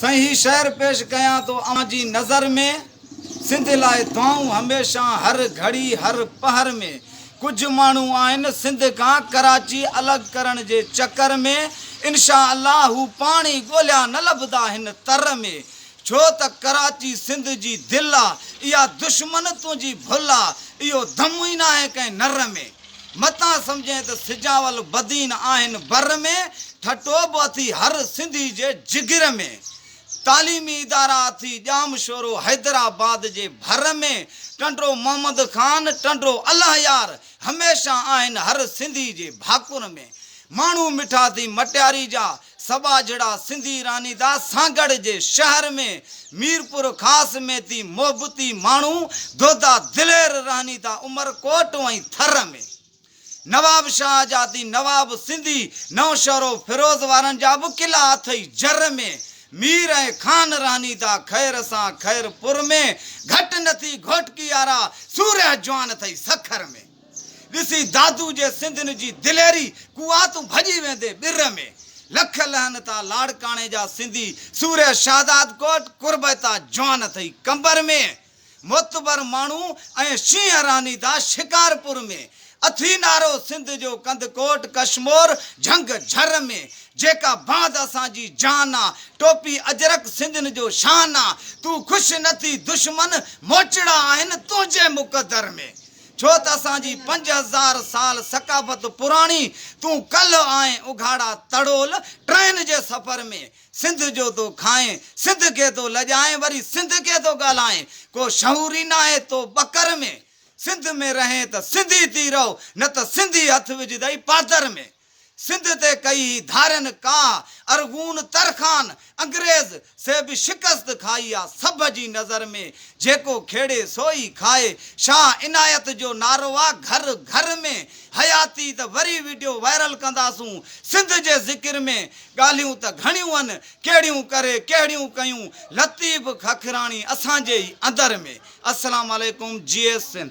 سائين هي شعر پيش ڪيان ٿو اوهان جي نظر ۾ سنڌ لاء دعائون هميشه هر گهڙي هر پهر ۾ ڪجهه ماڻهو آهن سنڌ کان ڪراچي الڳ ڪرڻ جي چڪر ۾ انشاء الله هو پاڻ ئي ڳوليا نه لڀدا هن تر ۾ ڇو ته ڪراچي سنڌ جي دل آ اها دشمن تنهنجي ڀل آ اهو دم ئي ناهي ڪنهن نر ۾. متان سمجهين ته سجاول بدين آهن بر ۾، ٺٽو به اٿي هر سنڌي جي جگر ۾، تعليمي ادارا اٿي ڄام شورو حيدرآباد جي ڀر ۾، ٽنڊو محمد خان، ٽنڊو الله يار، هميشه آهن هر سنڌي جي ڀاڪر ۾، ماڻهو مٺا ٿي مٽياري جا، سٻاجهڙا سنڌي رانديدا سانگهڙ جي شهر ۾ ميرپورخاص ۾ تي محبتي ماڻهو دودا دلير رانديدا عمرڪوٽ ۽ ٿر ۾ نوابشاهه جا تي نواب سنڌي نوشهرو فيروز وارن جا به قلعا اٿئي جر ۾ مير ۽ خان رانديدا خير سان خيرپور ۾ گهٽ نٿي گهوٽڪي آرا سورهه جوان اٿئي سکر ۾ ڏسي دادو جي سنڌين جي دليري قواتون ڀڄي ويندي ٻر ۾، لک لهن تان لاڙڪاڻي جا سنڌي سورهيه شهزاد ڪوٽ قربيتا جوان اٿئي قمبر ۾، معتبر ماڻهو ۽ شينهن رانيدا شڪارپور ۾، اٿئي نارو سنڌ جو ڪنڌڪوٽ ڪشمور جهنگ جهر ۾، جيڪا باند اسان جي جان آ، ٽوپي اجرڪ سنڌين جو شان آ، تون خوش نه ٿي دشمن موچڙا آهن تنهنجي مقدر ۾، ڇو ته اسان جي پنج هزار سال ثقافت پراڻي تون ڪلهه آهين اگهاڙا تڙول ٽرين جي سفر ۾ سنڌ جو ٿو کائين سنڌ کي ٿو لڄائين وري سنڌ کي ٿو ڳالهائين ڪو شعور ئي ناهي تو ٻڪر ۾ سنڌ ۾ رهين ته سنڌي ٿي رهو نه ته سنڌي هٿ وجهدئي پاتر ۾. سنڌ تي ڪئي هي ڌارين ڪاهه، ارغون ترخان، انگريز، سي به شڪست کائي آ، سڀ جي نظر ۾ جيڪو کيڙي سوئي کائي، شاهه عنايت جو نعرو آ، گهر گهر ۾ حياتي ته وري وڊيو وائرل ڪنداسون، سنڌ جي ذڪر ۾ ڳالهيون ته گهڻيون ان، ڪهڙيون ڪري ڪهڙيون ڪيون، لطيف ککراڻي اسان جي ئي اندر ۾. السلام عليڪم جيئي سنڌ.